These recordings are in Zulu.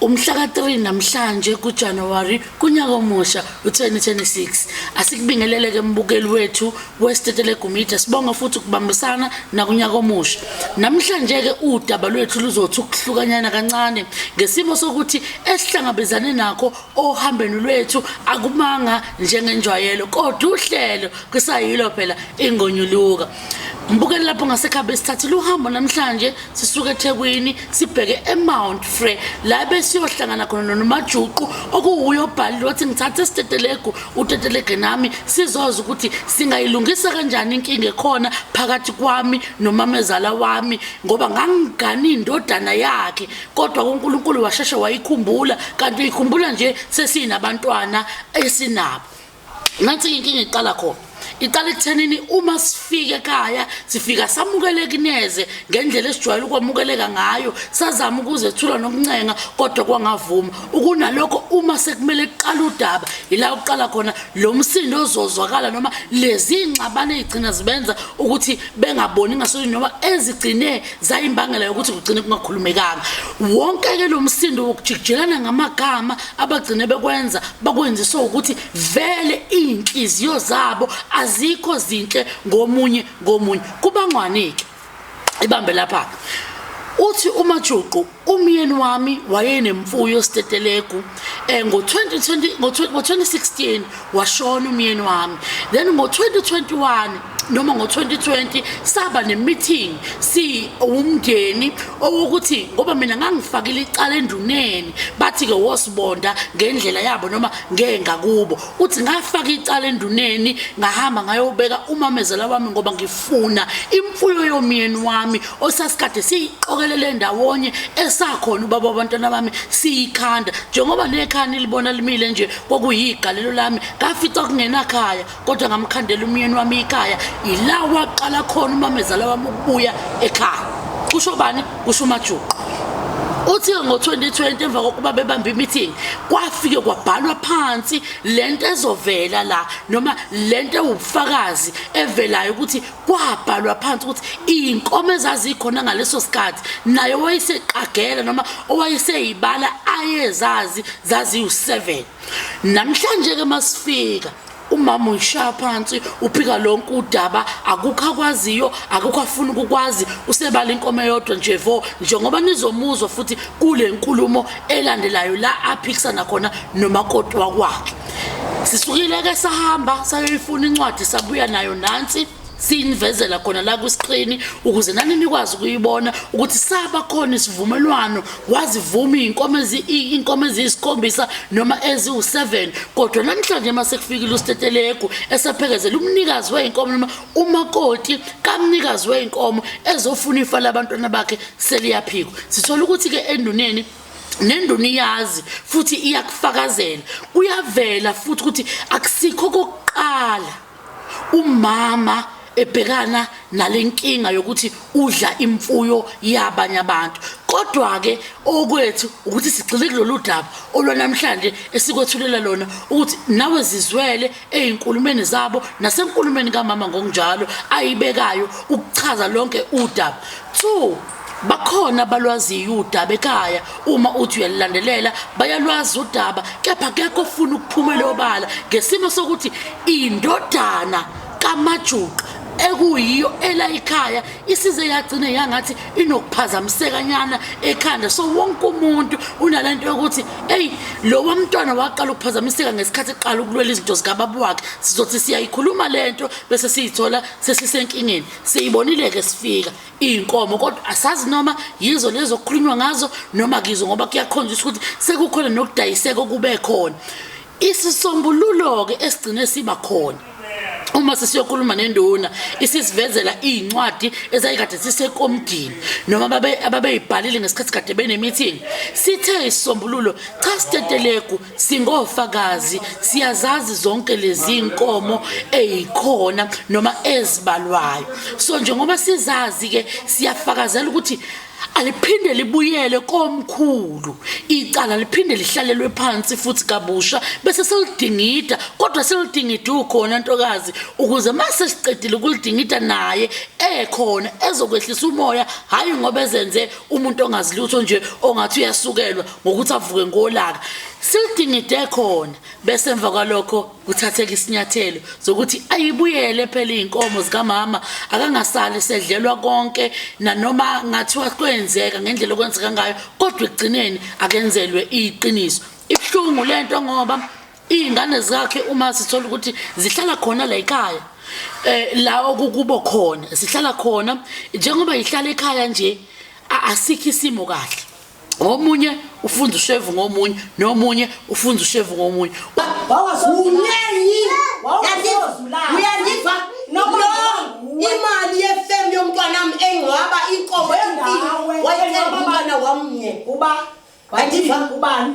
Umhlaka 3 namhlanje kuJanuary kunyaka omusha u-2026 asikubingeleleke embukeli wethu westetele gumida sibonga futhi ukubambisana nakunyaka omusha namhlanje ke udaba lwethu luzothi ukuhlukanyana kancane ngesimo sokuthi esihlangabezane nakho ohambeni lwethu akumanga njengenjwayelo kodwa uhlelo kusayilo phela ingonyuluka Ngibukele lapho ngasekhabe sithathile uhambo namhlanje sisuke eThekwini sibheke eMount Frey la besiyohlangana khona noNomajuqu okuwuyo obhalile wathi ngithathe isitetelegu utetelege nami sizoza ukuthi singayilungisa kanjani inkinga ekhona phakathi kwami nomamezala wami ngoba ngangigani indodana yakhe kodwa uNkulunkulu washeshe wayikhumbula kanti uyikhumbula nje sesinabantwana esinabo nansi inkinga iqala khona iqala ekuthenini uma sifike ekhaya sifika samukeleki neze ngendlela esijwayele ukwamukeleka ngayo sazama ukuzethula nokuncenga kodwa kwangavuma ukunalokho uma sekumele kuqala udaba yila uqala khona lo msindo ozozwakala noma lezi ngxabane ezigcina zibenza ukuthi bengaboni ngasonye noma ezigcine zayimbangela yokuthi kugcine kungakhulumekanga wonke ke lo msindo wokujikijelana ngamagama abagcine bekwenza bakwenziswa ukuthi vele izinhliziyo zabo azikho zinhle ngomunye ngomunye kubangwanike ibambe lapha uthi umajuqu umyeni wami wayenemfuyo stetelegu eh ngo-2020 ngo-2016 washona umyeni wami then ngo-2021 noma ngo-2020 saba ne-meeting siwumndeni owokuthi ngoba mina ngangifakile icala enduneni bathi-ke wosibonda ngendlela yabo noma ngengakubo uthi ngafaka icala enduneni ngahamba ngayobeka umamezela wami ngoba ngifuna imfuyo yomyeni wami osasikade siyiqokelele ndawonye esakhona ubaba abantwana bami siyikhanda njengoba nekhani libona limile nje kwakuyigalelo lami ngafica kungenakhaya kodwa ngamkhandela umyeni wami ikhaya yila waqala khona umamezala wami ukubuya ekhaya kusho bani kusho umajuqu uthi ngo-2020 emva kokuba bebambe imeeting kwafike kwabhalwa phansi le nto ezovela la noma le nto ewubufakazi evelayo ukuthi kwabhalwa phansi ukuthi iy'nkomo ezazikhona ngaleso sikhathi naye owayeseqagela noma owayeseyibala ayezazi zaziwu-seven namhlanje ke masifika umama uyishaya phansi uphika lonke udaba akukho akwaziyo akukho afuna ukukwazi usebala inkomo eyodwa nje vo njengoba nizomuzwa futhi kule nkulumo elandelayo la aphikisana khona nomakoti wakwakhe sisukile ke sahamba sayoyifuna incwadi sabuya nayo nansi siyinivezela khona la kwiskrini ukuze nani nikwazi ukuyibona ukuthi saba khona isivumelwano wazivuma iy'nkomo iy'nkomo eziyisikhombisa noma eziwu-seven kodwa namhlanje uma sekufikile usteteleku esaphekezela umnikazi wey'nkomo noma umakoti kamnikazi wey'nkomo ezofuna ifa labantwana bakhe seliyaphikwa sithola ukuthi-ke enduneni nenduna iyazi futhi iyakufakazela kuyavela futhi ukuthi akusikho kokuqala Umama ebhekana nalenkinga yokuthi udla imfuyo yabanye abantu kodwa-ke okwethu ukuthi sigxile kulolu daba olwanamhlanje esikwethulela lona ukuthi nawe zizwele ey'nkulumeni zabo nasenkulumeni kamama ngokunjalo ayibekayo ukuchaza lonke udaba two bakhona abalwaziyo udaba ekhaya uma uthi uyalulandelela bayalwazi udaba kepha kekho ofuna ukuphumela obala ngesimo sokuthi indodana kamajuqa ekuyiyo ela ikhaya isize yagcine yangathi inokuphazamisekanyana ekhanda so wonke umuntu unalento yokuthi hey lo wamntwana waqala ukuphazamiseka ngesikhathi eqala ukulwela izinto zikababa wakhe sizothi siyayikhuluma lento bese siyithola sesisenkingeni siyibonile ke sifika iy'nkomo kodwa asazi noma yizo lezo okukhulunywa ngazo noma kizo ngoba kuyakhonjiswa ukuthi sekukhona nokudayiseka okube khona isisombululo-ke esigcine siba khona uma sesiyokhuluma nenduna isisivezela iy'ncwadi ezayikade sisekomdini noma ababeyibhalile ngesikhathi kade bene-meeting sithe isisombululo cha stetelegu Singofakazi siyazazi zonke lezi nkomo ezikhona noma ezibalwayo. So njengoba sizazi ke siyafakazela ukuthi aliphinde libuyele komkhulu icala liphinde lihlalelwe phansi futhi kabusha bese selidingida kodwa selidingida ukhona ntokazi ukuze mase siqedile ukulidingida naye ekhona ezokwehlisa umoya hayi ngoba ezenze umuntu ongazilutho nje ongathi uyasukelwa ngokuthi avuke ngolaka silidingide khona bese emva kwalokho kuthatheka isinyathelo zokuthi ayibuyele phela izinkomo zikamama akangasali sedlelwa konke nanoma ngathiwa kwenzeka ngendlela okwenzeka ngayo kodwa ekugcineni akenzelwe iqiniso ibuhlungu lento ngoba izingane zakhe uma sithola ukuthi zihlala khona la ekhaya eh la okukubo khona sihlala khona njengoba ihlala ekhaya nje asikho isimo kahle ngomunye ufunza ushevu ngomunye nomunye ufunza ushevu ngomunye uyandiva imali yefemu yomntwanam engcwaba inkomo wayecela umntwana wamnye uba andiva ubani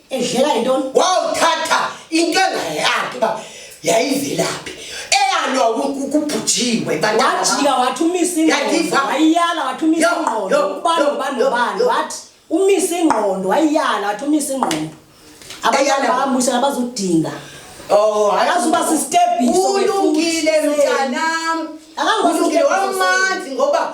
edleka yintoni wawuthatha into engayakhe uba yayivelaphi eyalwa kubhujiwe wajika wathi umisa ingqondo wayiyala wathi umisa ingqondo ubani ubani ubani wathi umisa ingqondo wayiyala wathi umisa ingqondo abayala bamusha abazodinga Oh, akazuba sisitebiso. Ulungile mntanami. Akazuba sisitebiso. Ulungile wamanzi ngoba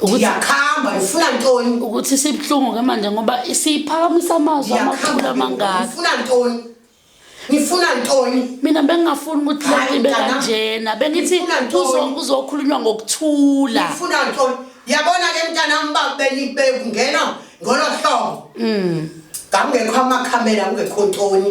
ukuthi yakhamba ufuna ntoni ukuthi sibuhlungu ke manje ngoba siyiphakamisa amazwi amakhulu amangaka ufuna ntoni ngifuna ntoni mina bengingafuni ukuthi lento ibe kanjena bengithi kuzokhulunywa ngokuthula ngifuna ntoni yabona ke mntanami ba benikungena ngolo hlobo mm. ngakungekho amakhamera kungekho ntoni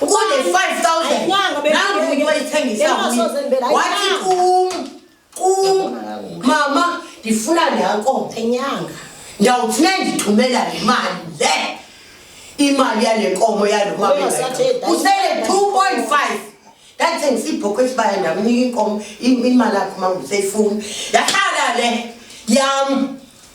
Uqonde 5000. Nangu umuntu wayithengisa. Wathi kum kum mama ndifuna nanko enyanga. Ndawuthi nendithumela le mali le. Imali yale nkomo yalo mama. Usele 2.5. That's in Sipo Kwesbaya ndamnika inkomo imali yakhe mama useyifuna. Yahlala le yam.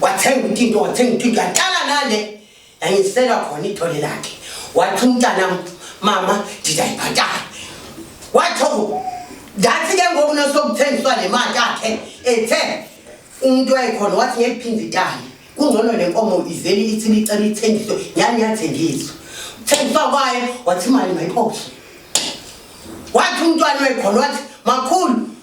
wathenga utinto wathenga utinto yaqala nale yangiselwa khona ithole lakhe wathi umntanam mama ndidayibhatala watho ndathi ke ngoku nosokuthengiswa le mali yakhe ethe umntu wayekhona wathi ngeliphinde itali kungcono le nkomo ivele ithi licela ithengiswe yani yathengiswa thengiswa kwayo wathi imali mayiphoshe wathi umntwana wekhona wathi makhulu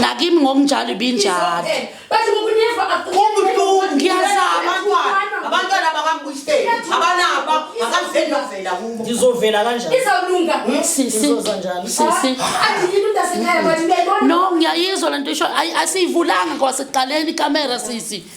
nakimi ngokunjalo ibinjalo ngizovela kanjanno ngiyayizwa le nto isho asiyivulanga kwasekuqaleni ikamera sisi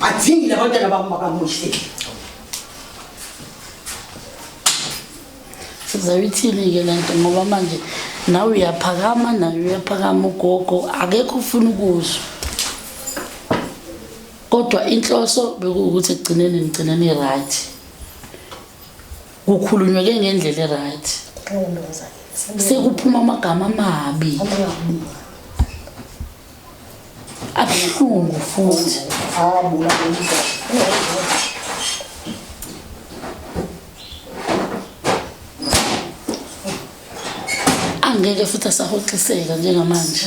Badingile abantwana bami bakamuhle. Sizayithini-ke le nto ngoba manje nawe uyaphakama naye uyaphakama ugogo akekho ufuna ukuzwa kodwa inhloso bekuwukuthi ekugcineni nigcineni i-right kukhulunywe ke ngendlela e-right sekuphuma amagama amabi abuhlungu futhi abula angeke futhi asahoxiseka njengamanje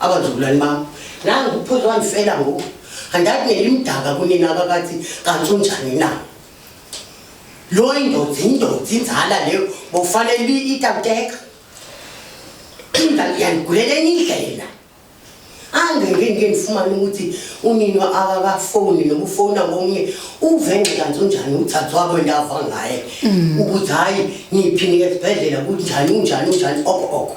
Abazulwane bami, nangu ukuphuza wangifela ngoku. Andathi nelimdaka kunina abakathi kanti unjani na? Lo indoda indoda inzala leyo bofanele itamteka. Phinda yanigulela enye indlela. Angeke ngike ngifumane ukuthi unina akakafoni noma ufona komunye uve nje kanti unjani uthathwa kwendava ngaye. Ukuthi hayi ngiphi nike esibhedlela kunjani unjani unjani okho okho.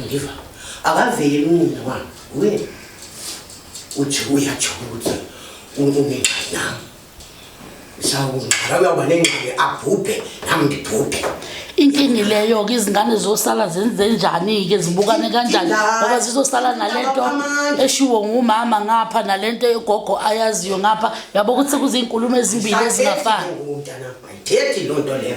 Ngiva. Akaveli unina wami. Uye. Uthi uyatsho ukuthi unengxaki nami. Sawungxara uyawuba nengxaki abhubhe nami ndibhubhe. Inkingi leyo ke izingane zosala zenze njani ke zibukane kanjani ngoba zizosala nalento eshiwo ngumama ngapha nalento egogo ayaziyo ngapha yabo ukuthi kuzinkulumo ezimbili ezingafani. Ayithethi lonto leyo.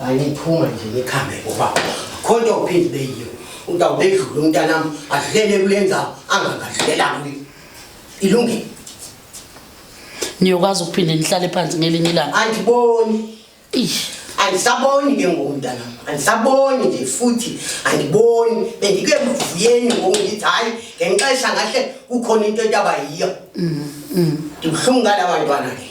Hayi phuma nje ngikhambe ngoba khonto uphinde beyiyo. Udawu bedlule umntanami adlele kulenza angangadlela kuyi. Ilungile. Niyokwazi ukuphinde nihlale phansi ngelinye ilanga. Andiboni. Ish. Andisaboni ke ngoku mntanami. Andisaboni nje futhi andiboni bendike mvuyeni ngoku ngithi hayi ngenxesha ngahle kukhona into etaba yiyo. Mhm. Mm. Ndibuhlungu ngala bantwana ke.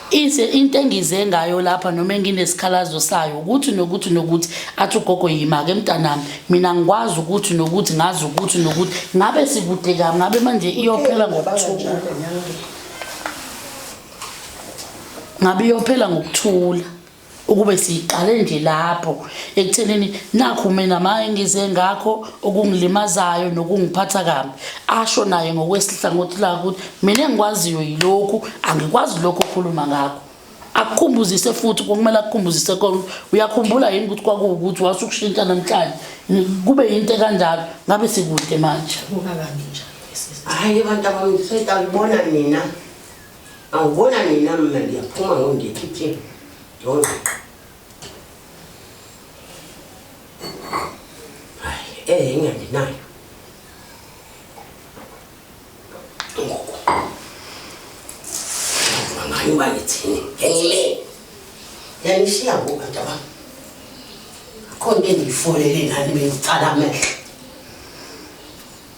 Ise into engize ngayo lapha noma enginesikhalazo sayo ukuthi nokuthi nokuthi athi ugogo yimake mntanami mina ngikwazi ukuthi nokuthi ngazi ukuthi nokuthi ngabe sikude kabi ngabe manje iyophela ngokuthula ngabe iyophela ngokuthula ukube siyiqale nje lapho ekuthenini nakho mina maye ngize ngakho okungilimazayo nokungiphatha kabi asho naye ngokwesihlangothi lakho ukuthi mina engikwaziyo yilokhu angikwazi lokho okhuluma ngakho akukhumbuzise futhi kumele akukhumbuzise kona uyakhumbula yini ukuthi kwakuwukuthi wase ukushintsha namhlanje kube yinto ekanjalo ngabe sikude manje hhayi abantu abamngisoyita ngibona mina Angibona nina mina ngiyaphuma ngondikhiphe yonke. Hayi, eh ngiyanginayo. Ngoku. Mama yiba ngithini? Ngiyile. Yanishiya ngoba ntaba. Khona engiyifolele nani bengicala amehlo.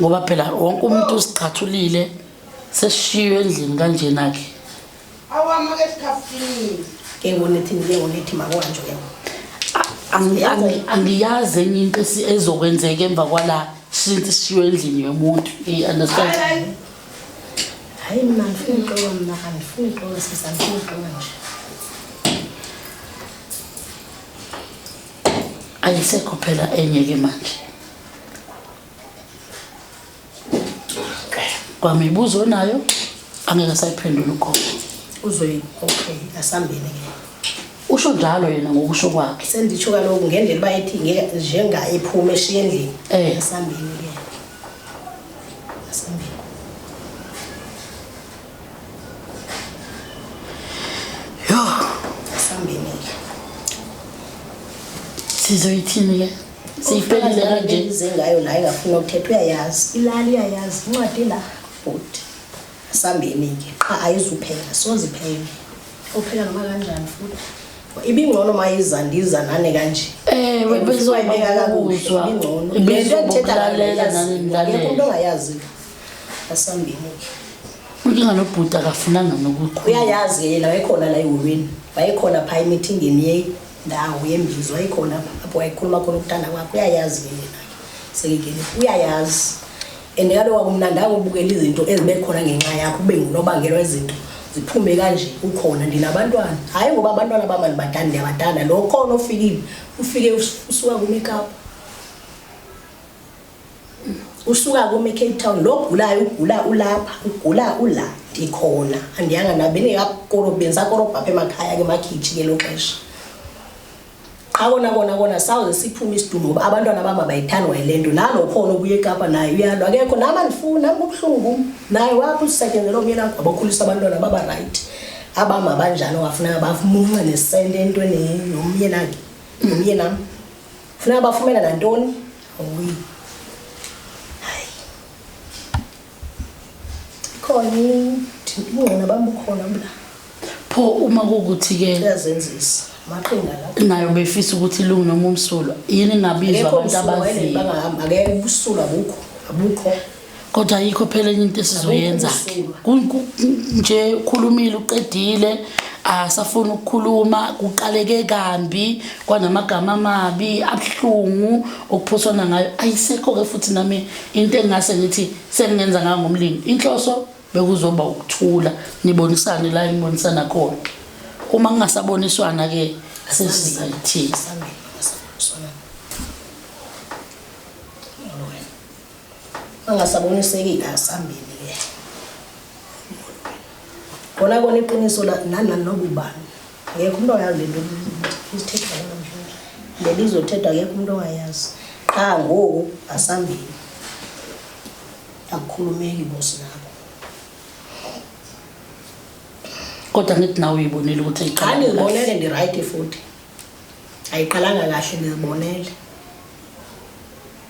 ngoba phela wonke umuntu usiqhathulile sesishiywe endlini kanjena-ke awama esikhafini ngewonethi ngewonethi makwanje ke angiyazi enye into ezokwenzeka emva kwala since sishiwe endlini yomuntu eyi understand hayi mina ngifuna uxoka mna andifuni uxoka sisa ngifuna uxoka nje ayisekho phela enye ke manje kwamibuzo onayo angeke asayiphendula ugogo uzoyi okay asambile ke usho njalo yena ngokusho kwakhe senditsho kaloku ngendlela uba ethi ngeke njenga ephume eshiye endlini Eh. asambile ke asambile Yo, sambenile. Sizoyithini ke? Siyiphelile kanje. Ngize ngayo la ingafuna ukuthetha uyayazi. Ilali uyayazi incwadi la. Bhuti. Sambeni ke. Qha ayizuphela, soze iphele. Uphela noma kanjani futhi? ibingcono mayiza ndiza nane kanje eh bezoyibeka kakuzwa ibingcono lento ethetha lalela nani nani lento ongayazi asambile unkinga nobhuti akafunanga nokukhula uyayazi ke yena wayekhona la ehholweni wayekhona phaa emithingeni yendawo yembizo wayekhona apho wayekhuluma khona ukuthanda kwakhe uyayazi ke yena sekekele uyayazi and kaloku wakumnandanga ubukela izinto ezibe khona ngenxa yakho ube ngunobangela wezinto ziphume kanje ukhona ndinabantwana hhayi ngoba abantwana bama ndibatanda ndiyabatanda lo khona ofikile ufike usuka kumekapha usuka kome Cape Town lo gulayo ugula ulapha ugula ula ndikhona andiyanga nabe ningakoro benza korobha apha emakhaya ke makhitshi ke lo xesha qha kona kona kona sawuze siphume isidumo uba abantwana bam abayithandi wayilento nalo khona obuye ekapa naye uyalwa akekho nam andifuni nam kubuhlungu naye wapha usisetyenzela omyeni akho abakhulisa abantwana babarayithi abam abanjani ongafunanga bamunce nesente entweni nomyeni akhe nomyenam Funeka bafumela nantoni? Awuyi. Hayi. Khona ingqona bambukhona mla. Pho uma kukuthi ke uyazenzisa maqinga la. Nayo befisa ukuthi lungu noma umsulwa. Yini ngabizwa abantu abazi. Akekho umsulwa bangahamba ngeke ubusulwa bukho. Abukho. kodwa yikho phela enye into esizoyenza nje ukhulumile uqedile asafuna ukukhuluma kuqaleke kambi kwanamagama amabi abuhlungu okuphoswana ngayo ayisekho-ke futhi nami into engingase ngithi sengingenza ngayo ngomlimi inhloso bekuzoba ukuthula nibonisane la enibonisana khona uma kungasaboniswana-ke sesizayithiza angasabonisekile asambile ke kona kona iqiniso la nana nobubani ngeke umuntu oyazi lento isithetha namhlanje lelizothetha ngeke umuntu oyazi qha ngoku asambile akukhulumeki bosi nabo kodwa ngithi nawe uyibonile ukuthi ayiqala ngibonele ndi right futhi ayiqalanga kahle ngizibonele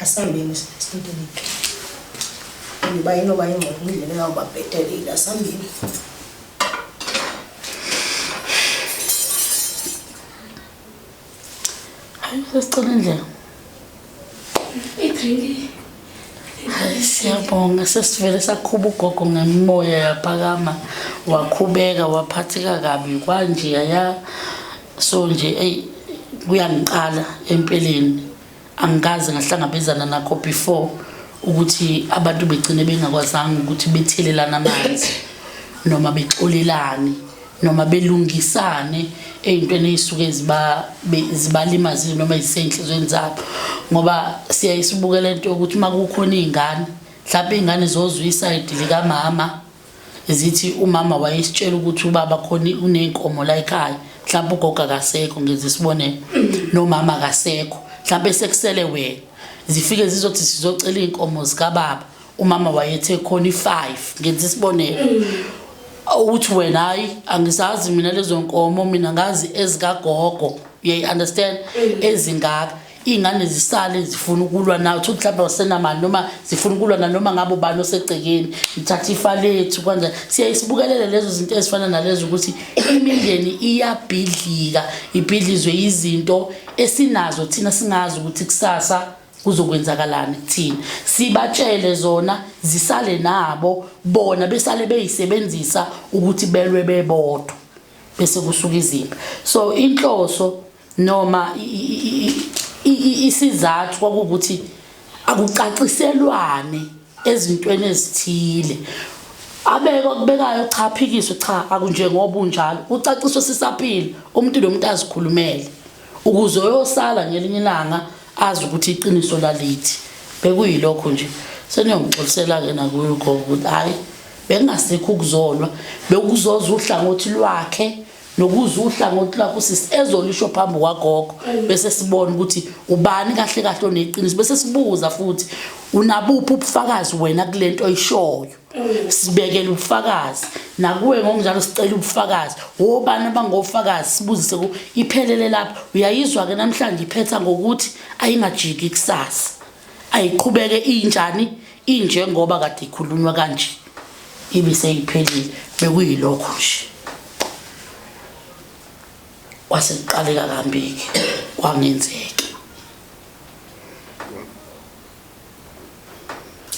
Asambeni student. Ngiba inoba ingcobo indlela yawuba bhetelile asambeni. Hayi sesicela indlela. Idrinki. Hayi siyabonga sesivele sakhuba ugogo ngemimoya yaphakama wakhubeka waphatheka kabi kwanje yaya so nje eyi kuyangiqala empeleni angikaze ngahlangabezana nakho before ukuthi abantu begcine bengakwazanga ukuthi bethelelana amanzi noma bexolelane noma belungisane ey'ntweni ey'suke zibalimazile noma zisenhlizweni zabo ngoba siyaye sibuke le nto yokuthi uma kukhona iy'ngane mhlawumpe iy'ngane zozwa isayidi likamama zithi umama wayesitshela ukuthi ubaba khona uney'nkomo la ekhaya mhlawumpe ugogo akasekho ngenza isibonelo nomama akasekho mhlawumpe sekusele wena zifike zizothi sizocela iy'nkomo zikababa umama wayethe khona i-five ngenza isibonelo ukuthi wena hayi angisazi mina lezo nkomo mina ngazi ezikagogo uyayi-understand ezingaka iy'ngane zisale zifuna ukulwa nayo ukuthi mhlawumbe wasenamali noma zifuna ukulwa nanoma ngabe ubani osegcekeni ngithatha ifa lethu kwanje siyaye sibukelele lezo zinto ezifana nalezo ukuthi imindeni iyabhidlika ibhidlizwe yizinto esinazo thina singazi ukuthi kusasa kuzokwenzakalani kuthina sibatshele zona zisale nabo bona besale beyisebenzisa ukuthi belwe bebodwa bese kusuka izimpi so inhloso noma isizathu kwakuwukuthi akucaciselwane ezintweni ezithile abeke okubekayo cha phikiswe cha akunjengoba unjalo ucaciswe sisaphila umuntu nomuntu azikhulumele ukuze oyosala ngelinye ilanga azi ukuthi iqiniso lalithi bekuyilokho nje seniyongixolisela-ke nakuyo ugogo ukuthi hhayi bekungasikho ukuzolwa bekuzoza uhlangothi lwakhe nokuzwa uhlangothi lakho sisi ezolisho phambi kwagogo bese sibona ukuthi ubani kahle kahle oneqiniso bese sibuza futhi unabuphi ubufakazi wena kulento oyishoyo sibekele ubufakazi nakuwe ngokunjalo sicela ubufakazi wobani abangofakazi sibuzise ku iphelele lapho uyayizwa ke namhlanje iphetha ngokuthi ayingajiki kusasa ayiqhubeke injani injengoba kade ikhulunywa kanje ibe seyiphelile bekuyilokho nje kwase kuqaleka kambiki kwangenzeki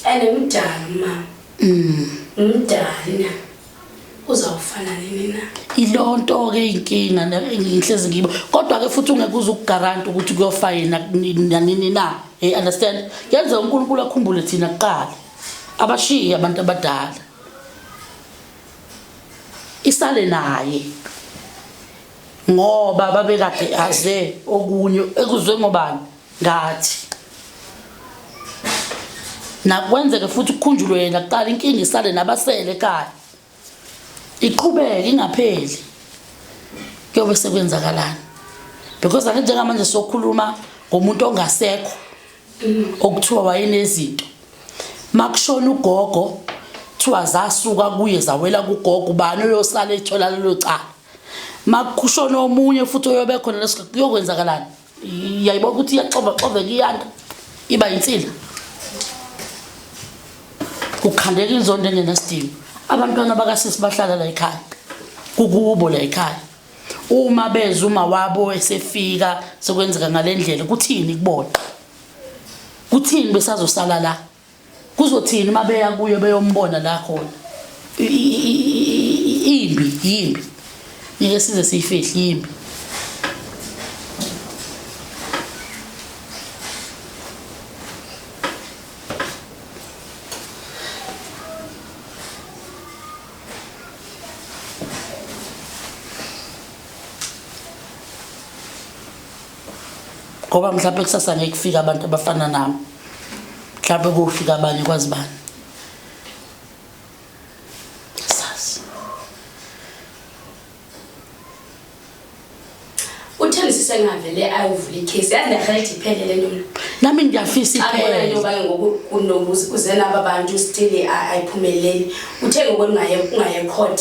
and ngimdala mama mm. ngimdala uzawufana nini na yiloo nto ke inkinga ngihlezi ngiba kodwa ke futhi ungeke uze ukugaranta ukuthi kuyofa yena nanini na hey understand yenze unkulunkulu akhumbule thina kuqala abashiye abantu abadala isale naye ngoba babekade aze okunye ekuzwe ngobani ngathi nakwenzeke futhi kukhunjulwe yena kuqala inkinga isale nabasele ekhaya iqhubeke ingapheli kuyobe sekwenzakalani because ake njengamanje sokhuluma ngomuntu ongasekho okuthiwa wayenezinto makushona ugogo kuthiwa zasuka kuye zawela kugogo ubani oyosala ethola lelo cala makushona omunye futhi oyobe khona leso kuyokwenzakalani yayibona ukuthi iyaxovaxoveka iyanda iba yinsila kukhandeka inzondo engenasidingo abantwana bakasisi bahlala la ekhaya kukubo la ekhaya uma beza uma wabo esefika sekwenzeka ngalendlela kuthini kubona kuthini besazosala la kuzothini uma beya kuyo beyombona la khona imbi yimbi ngeke size siyifihle yimbi ngoba mhlawumbe kusasa ngeke kufike abantu abafana nami mhlawumbe kofika abanye kwazi bani sengavele ayovula ikhesi yazi ndiyakhala ithi iphele le nto nami ndiyafisa ipheleintobaye ngokuze naba bantu still ayiphumeleli uthe ngoku ungaye court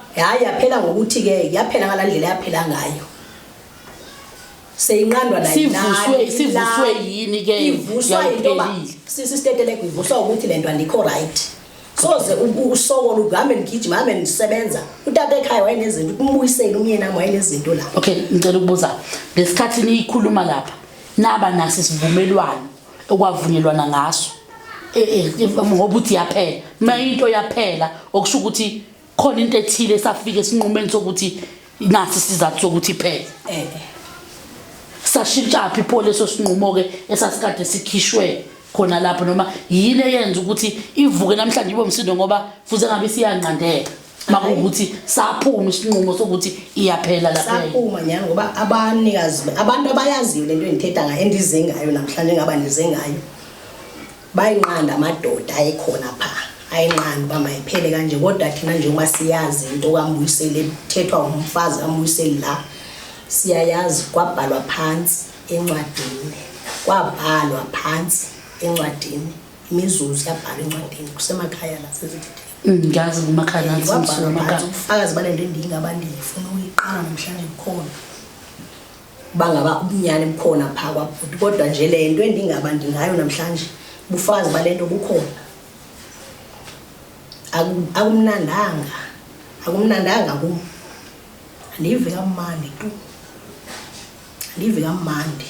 Hayi yaphela ngokuthi ke yaphela ngalandlela yaphela ngayo. Seyinqandwa la sivuswe sivuswe yini ke ivuswa into ba sisi stetelek ivuswa ukuthi lento andikho right. Soze usoko luhambe ngigijima hambe ngisebenza. Utata ekhaya wayenezinto umbuyisele umyeni nami wayenezinto la. Okay ngicela ukubuza lesikhathi niyikhuluma lapha naba nasi sivumelwano okwavunyelwana ngaso. Eh eh ngoba uthi yaphela. Mayinto yaphela okusho ukuthi khona into ethile esafika esinqumeni sokuthi nasi isizathu sokuthi iphele eh, eh. sashintshaphi pho leso sinqumo-ke esasikade sikhishwe khona lapho noma yini eyenza ukuthi ivuke namhlanje ibe umsindo ngoba futhi engabe isiyanqandeka makuwukuthi saphuma isinqumo sokuthi iyaphela lapha saphuma nyani ngoba abanikazi abantu abayaziyo lento engithetha ngayo endize ngayo namhlanje ngaba ndize ngayo bayinqanda amadoda ayekhona pha ayinqanda uba mayiphele kanje kodwa thina njengoba siyazi into kambuyiseli ethethwa umfazi kambuyiseli la siyayazi kwabhalwa phansi encwadini kwabhalwa phansi encwadini imizuzu yabhalwa encwadini kusemakhaya la sezithethe mm, ngiyazi kumakhaya nathi ubufakazi balento endingabantu ndiyifuna uyiqala namhlanje kukhona bangaba ubunyane bukhona phaa kwabhuti kodwa nje le nto endingaba ndingayo namhlanje bufazi bale nto bukhona akumnandanga akumnandanga kum andiyive kamandi tu andiyive kamandi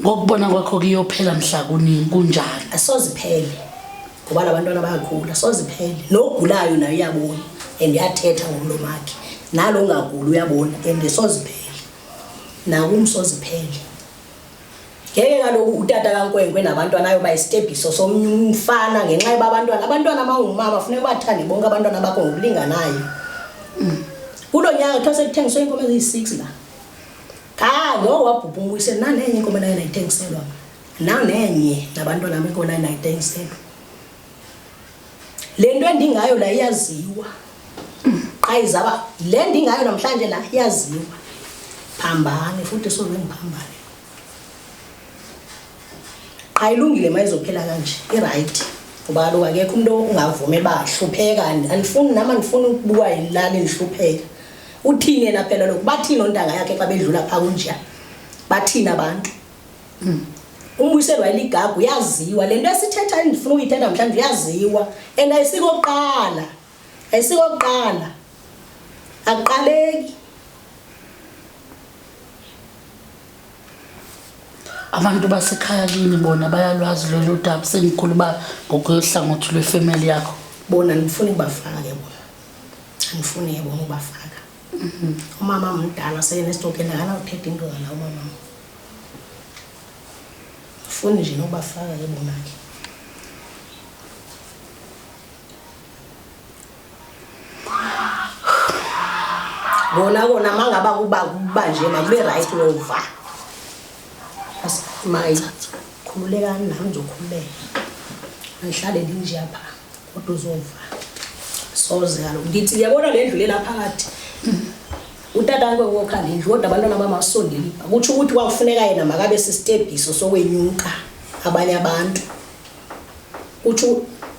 ngokubona kwakho kuyophela mhla kuningi kunjani asoziphele ngoba labantwana bayakhula soziphele lo ogulayo naye uyabona and yathetha ngomlomo wakhe nalo ungaguli uyabona and soziphele nakumsoziphele ngeke kaloku utata kankwenkwe nabantwana ayoba isitebhiso somnye umfana ngenxa yoba abantwana abantwana abangumama funeka ubathande bonke abantwana bakho ngokulinganayo mm. kulo nyaka kuthiwa sekuthengiswe iinkomo eziyi-six la Ah, no wabhubha umuyise nanenye inkomo naye nayitengiselwa. Nanenye nabantwana bami inkomo naye nayitengiselwa. Le nto endingayo la iyaziwa. Ayi zaba le ndingayo namhlanje la iyaziwa. Phambane futhi soze ngiphambane. Qha ilungile mayizophela kanje. I-right. Ngoba kaloku akekho umuntu ongavumi ebahlupheka. Andifuni nami andifuni ukubuka yilali ngihlupheka. Uthini yena phela lokhu? Bathini ontanga yakhe xa bedlula pha kunja? Bathini abantu? Mm. Umbuyiselo wayeligagu yaziwa lento esithetha endifuna uyithetha namhlanje uyaziwa and ayisikokuqala. Ayisikokuqala. Akuqaleki. abantu basekhaya kini bona bayalwazi lolu daba sengikhuluma ngokuyohlangothi lwefemeli yakho bona ngifuna ubafake bona angifuni yabona ubafaka mhm. umama mdala seyena esitokela akanawuthetha into ngala umama ngifuni nje nobafaka ke bonake kona kona mangaba kuba kuba nje makube right wova asimayi khululekani nami ngizokhululeka angihlale ndinje apha kodwa uzofa soze kalo ngithi uyabona le ndlu lela phakathi utata ngeke wokha le ndlu kodwa abantwana bamasondeli ukuthi ukuthi kwakufuneka yena makabe sistebhiso sokwenyuka abanye abantu uthi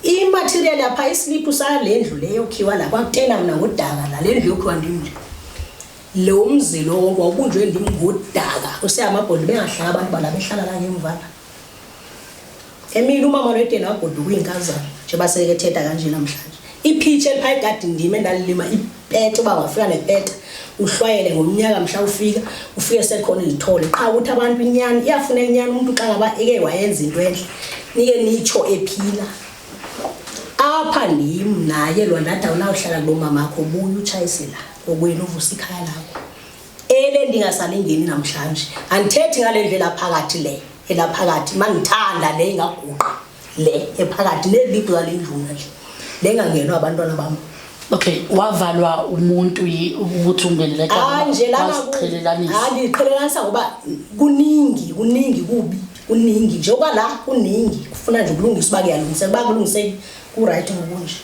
imaterial yapha isiliphu sale ndlu leyo khiwa la kwakutena mina ngodaka la le ndlu yokhiwa ndimnje lo mzi lo wawubunjwe ndim ngodaka useyamabhondi bengahlala abantu bala behlala la ngemva la Emile umama lwedela wagoduka uyinkazana njengoba seke thetha kanje namhlanje iphitshe eliphayi gadi ndima endalilima ipete uba wafika nepete uhlwayele ngomnyaka mhla ufika ufike sekhona izithole qha ukuthi abantu inyani iyafuna inyani umuntu xa ngaba eke wayenza into enhle nike nitsho ephila apha ndim naye lwandathi awunawuhlala kulo mamakho buye utshayisela kokwenu uvusa ikhaya lakho Ele ndingasalingeni namhlanje. Andithethi ngale ndlela phakathi le, elaphakathi mangithanda le ingaguqa le ephakathi nelibhu zale ndluna nje. Le ngangenwa abantwana bami. Okay, wavalwa umuntu yi- ukuthi ungenele Hayi nje lana ku- wasiqhelelanisa. hayi ngiqhelelanisa ngoba kuningi kuningi kubi kuningi njengoba la kuningi kufuna nje ukulungisa uba kuyalungiseka uba kulungiseki ku-right ngokunje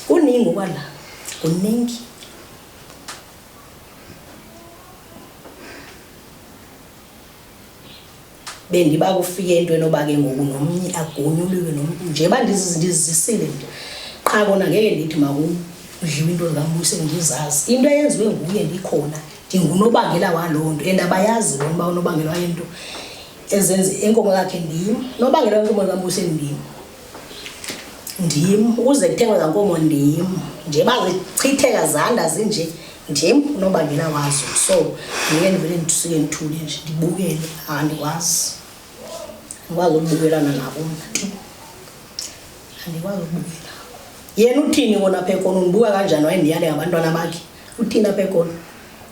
kuningi okwala kuningi bendiba kufike into enoba ke ngoku nomnye agonyuliwe nomntu nje uba ndizisile nje qha kona ngeke ndithi makudliwe into zikamuse ndizazi into eyenziwe nguye ndikhona ndingunobangela waloo nto and abayazi lona uba unobangela wayento ezenze inkomo yakhe ndim nobangela wenkomo likamuse ndim ndim ukuze kuthengwe kankomo ndim nje bazichitheka zanda zinje ndim unobangela wazo so ndiye ndivele ndisuke ndithule nje ndibukele andikwazi andikwazi ukubukelana nabo mna andikwazi ukubukela yena uthini kona apha ekona undibuka kanjani wayendiyale ngabantwana bakhe uthini apha ekona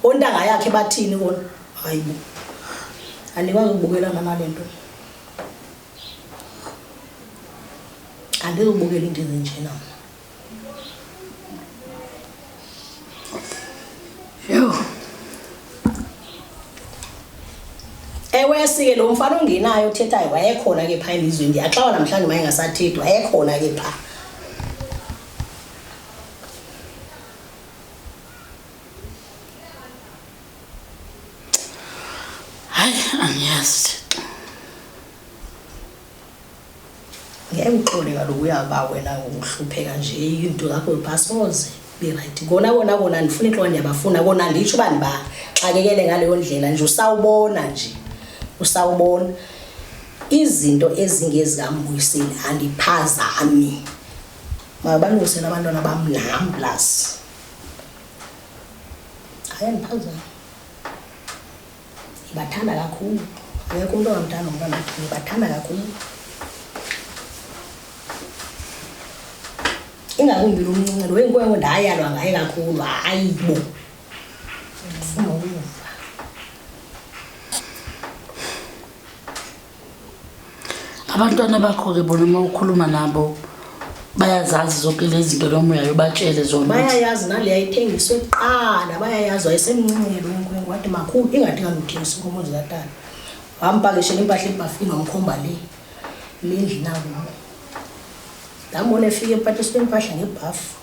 ontanga yakhe bathini kona hayibo andikwazi ukubukelana nale nto angeke ubukele into ezinjena mna yho ewesike lo mfana ongenayo othethayo wayekhona ke phaa elizweni ndiyaxawa namhlanje uma engasathethi wayekhona ke phaa hayi angiyazi thixo ngeke uxole kaloku uyaba wena uhlupheka nje into zakho basoze be-right kona kona kona ndifuna intloko ndiyabafuna kona nditsho uba ndibaxakekele ngaleyo ndlela nje usawubona nje usawubona izinto ezingezikambuyiseli andiphazami mabalungisele abantwana bam nam plus Hayi ngiphazana. Ngibathanda kakhulu. Ngeke umuntu ongamthanda umntwana wakhe. Ngibathanda kakhulu. Ingakumbi lo mncinci lo wenkwenkwe ndayalwa ngaye kakhulu. Hayi bo. Ndifuna ukuva. abantwana bakho-ke bona uma ukhuluma nabo bayazazi zonke lezi zinto noma uyayobatshele zona bayayazi naleya ithengiswe kuqala bayayazi wayesemncele lonkwenke wathi makhulu ingathi kanguthengisa inkomo zikatana wambhakeshela impahla ebhafini wamkhomba le lendli nabo ndambona efika empatiswe impahla ngebhafu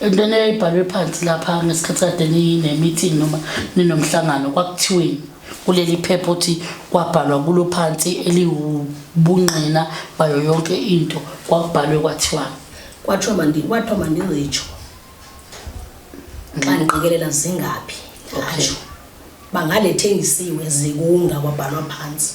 entweni eyayibhalwe phansi lapha ngesikhathi kade ninemeeting noma ninomhlangano kwakuthiweni kuleli phepha ukuthi kwabhalwa kulo phansi eliwubungqina bayo yonke into kwakubhalwe kwathiwa kwathiwa mandi kwathiwa mandizitsho xa mm. ndiqikelela zingaphi ngasho bangalethengisiwe zikunga kwabhalwa phansi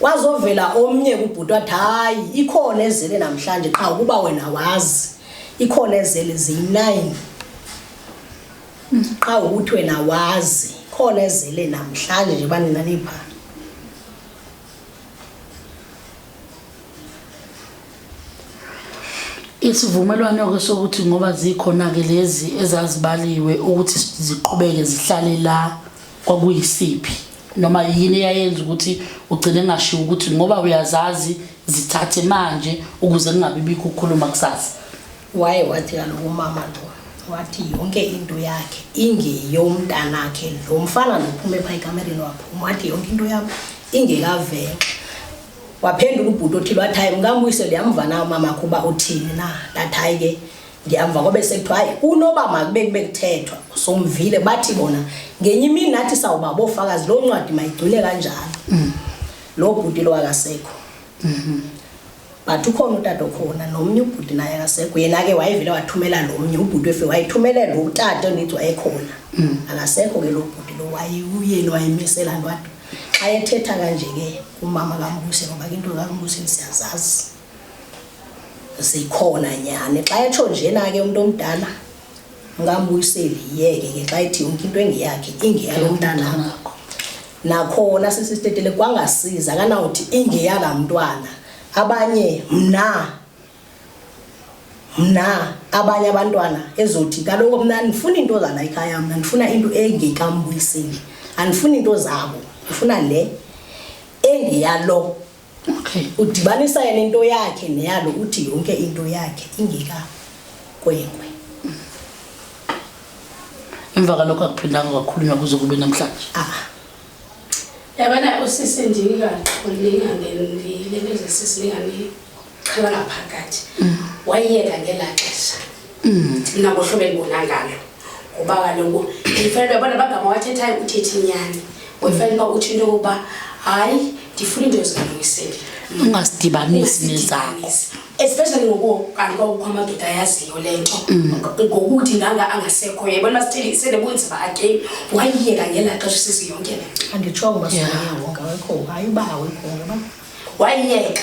kwazovela omnye kubhuti wathi hayi ikhona ezele namhlanje qha ukuba wena wazi ikhona ezele ziyi-nine qha ukuthi wena wazi khona ezele namhlanje nje banina nipha isivumelwano-ke sokuthi ngoba zikhona-ke lezi ezazibaliwe ukuthi ziqhubeke zihlale la kwakuyisiphi noma yini eyayenza ukuthi ugcine ngashiwo ukuthi ngoba uyazazi zithathe manje ukuze kungabi bikho ukukhuluma kusasa waye wathi kaloku umama lo wathi yonke into yakhe ingeyomntanakhe lo mfana nophume phaa ekamereni waphuma wathi yonke into yam ingekavenxa waphendula ubhuti othile wathi hayi mkambuyisele yamva na umama kho uba uthini na ndathi hayi ke Ngiyamva kwabe sekuthiwa hayi unoba makube kube kuthethwa somvile bathi bona ngenye imini nathi sawuba bofakazi lo ncwadi mayigcwile kanjalo. Mm. Lo bhuti lo akasekho. Mhm. But ukhona utata okhona nomnye ubhuti naye akasekho yena ke wayevele wathumela lo mnye ubhuti efe wayithumelela lo utata ongithi wayekhona. Mm. Akasekho ke lo bhuti lo wayeyuyeni wayemisela ntwadi. Xa ethetha kanje ke umama kaMbusi ngoba into kaMbusi siyazazi. zikhona nyhani xa etsho njena ke umntu omdala ngambuyiseli yeke ke xa ethi yonke into engeyakhe ingeyalo mntana wakho nakhona sisitetele kwangasiza kanawuthi ingeyala mntwana abanye mna mna abanye abantwana ezothi kaloku mna ndifuna into zala ikhaya mna ndifuna into engekambuyiseli andifuni into zabo ndifuna le engeyalo Okay. Udibanisa yena into yakhe neyalo uthi yonke into yakhe ingeka kwenkwe. Emva kalokho akuphindanga kwakhulunywa kuze kube namhlanje. Ah. Yabona usisi ndika ulinga ngendile bese sisi lingani chala ngaphakathi. Mm. Wayeka ngelaxesha. nabo hlobo elibona ngalo ngoba kaloku ndifanele uba bona abagama wathethayo uthethe inyani ngoyifanele uba utsho into yokuba hayi ndifuna into ezilungisile ungasidibanisi nezakho especially ngoku kanti kwakukho amadoda ayaziyo le nto mm. ngokuthi nganga angasekho yayibona masithele isele bunzima again wayiyeka ngela xesha usisi yonke le anditsho ngoba siyayewonke awekho hayi uba awekho ngoba wayiyeka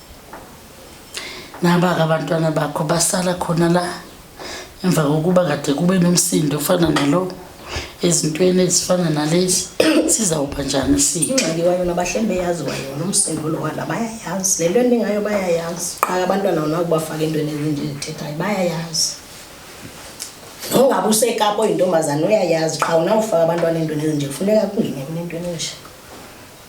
naba-ke abantwana bakho basala khona la emva kokuba kade kube nomsindo ofana nalo ezintweni ezifana nalezi sizawuba njani sithe ingxaki kwayona bahlembe yazi kwayona umsindo lo wala bayayazi le nto endingayo bayayazi qaka abantwana wona kubafaka entweni ezinje zithethayo bayayazi nongabe usekapa oyintombazane uyayazi qha unawufaka abantwana entweni ezinje kufuneka kungene kunentweni enje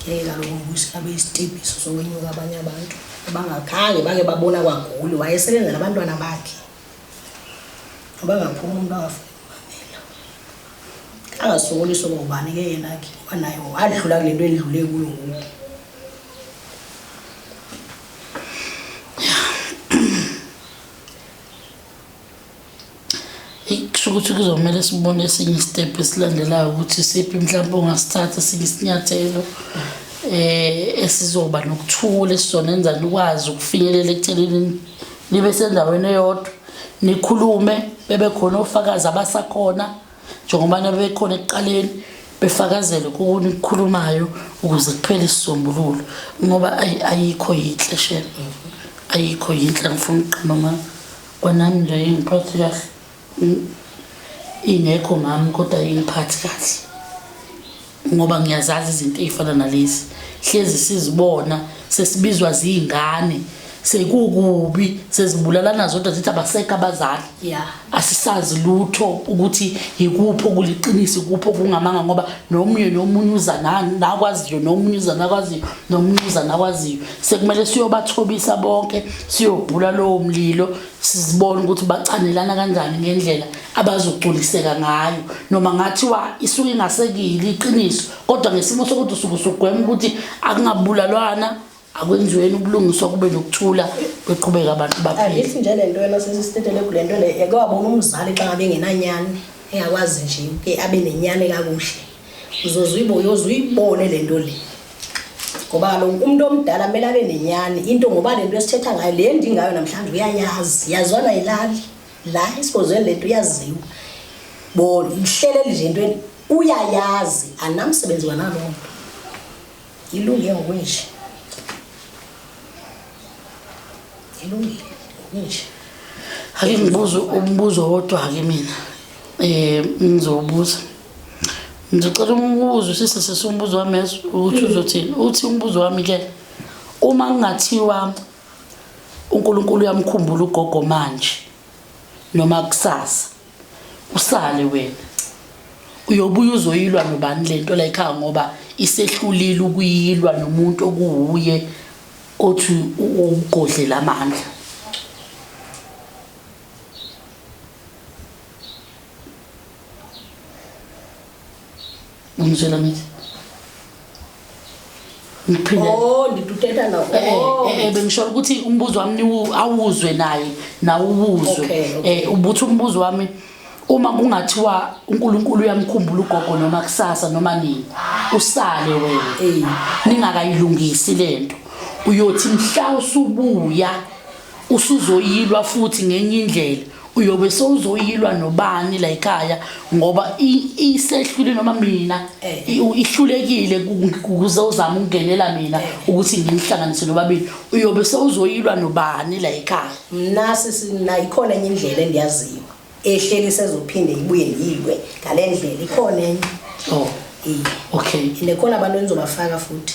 ngeke kaloku umbusi abe isitebhiso sokwenyuka abanye abantu abangakhange bake babona kwaguli wayesebenza nabantwana bakhe ngoba ngaphuma umuntu angafuni umamela angasokoliswa ngobani ke yena ke wanaye wadlula kule nto endlule kuyo ngoku kusho ukuthi kuzomele sibone esinye isitepu esilandelayo ukuthi siphi mhlawumbe ongasithatha esinye isinyathelo eh esizoba nokuthula esizonenza nikwazi ukufinyelela ekuthenini nibe sendaweni eyodwa nikhulume bebe khona ofakazi abasakhona njengoba nabekhona ekuqaleni befakazele kuni kukhulumayo ukuze kuphele isisombululo ngoba ayikho yinhle shema ayikho yinhle ngifuna uqhuma mama Kwanami nje ingiphathi kahle ingekho ngami kodwa ingiphathi kahle ngoba ngiyazazi izinto ey'fana nalezi hlezi sizibona sesibizwa ziy'ngane sekukubi sezibulalana zodwa zithi abaseka abazali yeah. asisazi lutho ukuthi yikuphi okuliqinisa ikuphi okungamanga ngoba nomunye nomunye uza nakwaziyo nomunye uza nakwaziyo nomunye uza nakwaziyo sekumele siyobathobisa bonke siyobhula lowo mlilo sizibona ukuthi bacanelana kanjani ngendlela abazogculiseka ngayo noma ngathiwa isuke ingasekile iqiniso kodwa ngesimo sokuthi usuke usugwema ukuthi akungabulalwana akwenziweni ubulungiswa kube nokuthula beqhubeka abantu baphilithi nje le nto yena sesisitethele kule nto le yake wabona umzali xa ngabe engenanyani engakwazi nje ke abe nenyani kakuhle uyoze uyibone le nto le ngoba kaloku umntu omdala kumele abe nenyani into ngoba le nto esithetha ngayo le ndingayo namhlanje uyayazi yazwana yilali la esikozweni le nto uyaziwa bo ihleleli nje entweni uyayazi anamsebenzi wanaloo nto ilunge ngokunje ilungile ngokunje ake ngibuze umbuzo wodwa-ke mina um ngizowubuza Ngicela umbuzo sisi sisi umbuzo wami yazi ukuthi uzothini. Uthi umbuzo wami ke uma kungathiwa uNkulunkulu uyamkhumbula ugogo manje noma kusasa usale wena uyobuya uzoyilwa nobani le nto la ekhaya ngoba isehlulile ukuyilwa nomuntu okuwuye othi uwugodle lamandla Umzwela mithi. Ngiphinde. Oh, ndidudeta nawo. Eh, eh, oh. eh, eh bengisho ukuthi umbuzo wami awuzwe naye nawuwuzwe. Eh ubuthi umbuzo wami uma kungathiwa uNkulunkulu uyamkhumbula ugogo noma kusasa noma nini usale wena ningakayilungisi lento uyothi mhla usubuya usuzoyilwa futhi ngenye indlela uyobe sowuzoyilwa nobani la ekhaya ngoba isehlule noma mina eh. ihlulekile ukuze uzama ukungenela mina eh. ukuthi ngimhlanganise nobabili uyobe sowuzoyilwa nobani la ekhaya mna sisina ikhona enye indlela endiyaziyo ehleli sezophinde ibuye yilwe ngale ndlela ikhona enye oh okay nekhona abantu enizobafaka futhi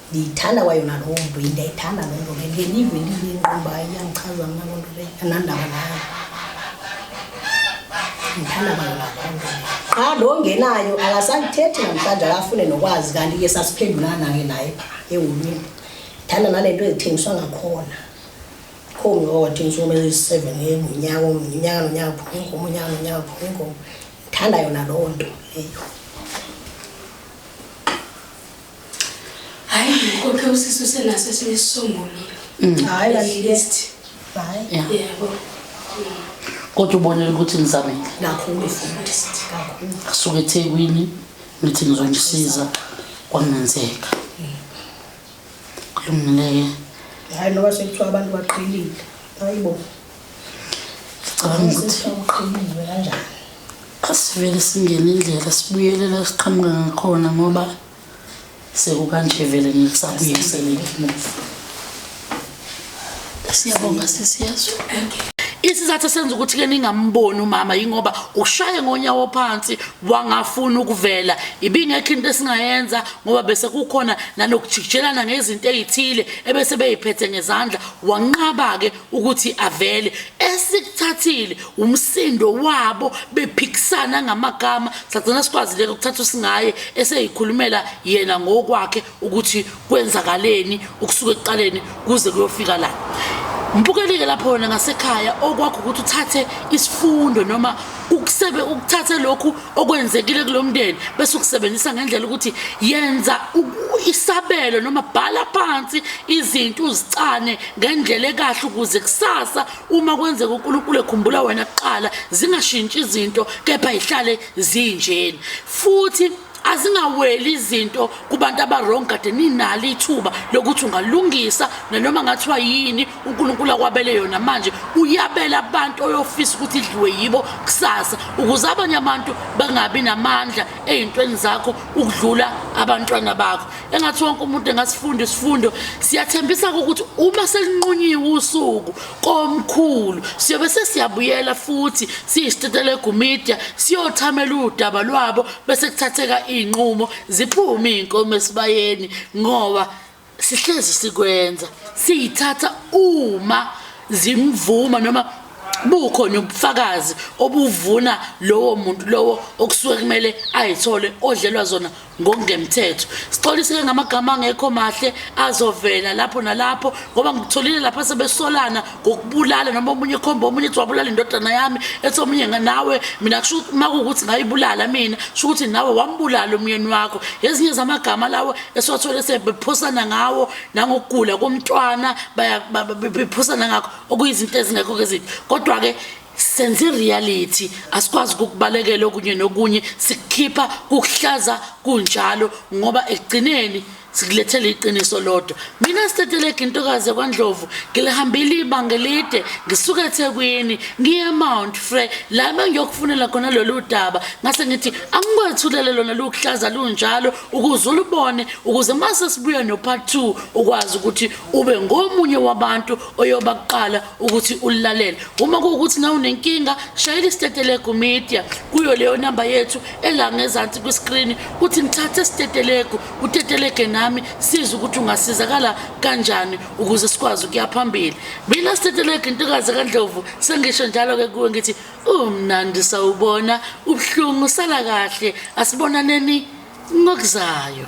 Ndiyithanda kwayona loo nto, ndiyayithanda loo nto leyo. Ndiye ndive ndive ingqumba iyandichaza mna loo nto leyo, andinandaba nayo. Ndiyithanda kwayona loo nto leyo. Qha lo ongenayo akasakuthethi namhlanje akafune nokwazi kanti ke sasiphendulana-ke naye eholweni. Ndithanda nale nto ezithengiswa ngakhona. Kho mntu owawathengisa iinkomo eziyi-seven ngonyaka omnye, unyaka nonyaka kuphume iinkomo, unyaka nonyaka kuphume iinkomo. Ndithanda yona loo nto leyo. Hayi ngikophe usisi usenaso esinye isisombululo. Mm. Hayi la list. Hayi. Yebo. Kodwa ubonile ukuthi ngizamile. Kakhulu futhi kakhulu. Asuke eThekwini ngithi ngizomsiza kwangenzeka. Kulungile. Hayi noba sekuthiwa abantu baqhelile. Hayibo. Cabanga ukuthi uqhamuke kanjani? Asivele singene indlela sibuyele la siqhamuka ngakhona ngoba sekukanje vele ngisabuye sebengimuva. Siyabonga sesiyazwa. Isizathu senza ukuthi ke ningamboni umama yingoba ushaye ngonyawo phansi wangafuna ukuvela ibingekho into esingayenza ngoba bese kukhona nanokujikijelana ngezinto ezithile ebese beyiphethe ngezandla wanqaba ke ukuthi avele esikuthathile umsindo wabo bephikisana ngamagama sagcina sikwazile ukuthatha usingaye eseyikhulumela yena ngokwakhe ukuthi kwenzakaleni ukusuka ekuqaleni kuze kuyofika la mbukelike lapho wena ngasekhaya okwakho ukuthi uthathe isifundo noma ukusebe ukuthathe lokhu okwenzekile kulo mndeni bese ukusebenzisa ngendlela ukuthi yenza isabelo noma bhala phansi izinto uzicane ngendlela ekahle ukuze kusasa uma kwenzeka uNkulunkulu ekhumbula wena kuqala zingashintshi izinto kepha ihlale zinjeni futhi azingaweli izinto kubantu abarong kade ninalo ithuba lokuthi ungalungisa nanoma ngathiwa yini unkulunkulu akwabele yona manje uyabela abantu oyofisa ukuthi idliwe yibo kusasa ukuze abanye abantu bangabi namandla ey'ntweni zakho ukudlula abantwana bakho engathi wonke umuntu engasifunda isifundo siyathembisa-ke ukuthi uma selinqunyiwe usuku komkhulu siyobe sesiyabuyela futhi siyisitetelegu media siyothamela udaba lwabo bese kuthatheka iy'nqumo ziphume iy'nkomo esibayeni ngoba sihlezi sikwenza siyithatha uma zimvuma noma bukhona ubufakazi obuvuna lowo muntu lowo okusuke kumele ayithole odlelwa zona ngokungemthetho sixoliseke ngamagama angekho mahle azovela lapho nalapho ngoba ngitholile lapha sebesolana ngokubulala noma omunye khomba omunye ethi wabulala indodana yami ethi omunye nawe mina kusho ukuthi uma kuwukuthi ngayibulala mina kusho ukuthi nawe wambulala umyeni wakho ezinye zamagama lawo esiwathole sebephusana ngawo nangokugula komntwana bephusana ngakho okuyizinto ezingekho-ke eziphi kodwa-ke senze reality asikwazi ukukubalekela okunye nokunye sikukhipha kukuhlaza kunjalo ngoba ekugcineni sikulethele iqiniso lodwa mina sitetelege intokazi yakwandlovu ngilihambile ibanga elide ngisuka ethekwini ngiye mount fre la bengiyokufunela khona lolu daba ngase ngithi angikwethulele lona lukuhlaza lunjalo ukuze ulubone ukuze mase sibuya no-part two ukwazi ukuthi ube ngomunye wabantu oyoba kuqala ukuthi ulilalele uma kuwukuthi nawe unenkinga shayela isitetelegu media kuyo leyo namba yethu elangezansi kwiskrini kuthi ngithathe isitetelegu utetelege nami siza ukuthi ungasizakala kanjani ukuze sikwazi ukuya phambili mina sitetelege intokazi kandlovu sengisho njalo-ke kuwe ngithi umnandi sawubona ubuhlungu sala kahle asibonaneni ngokuzayo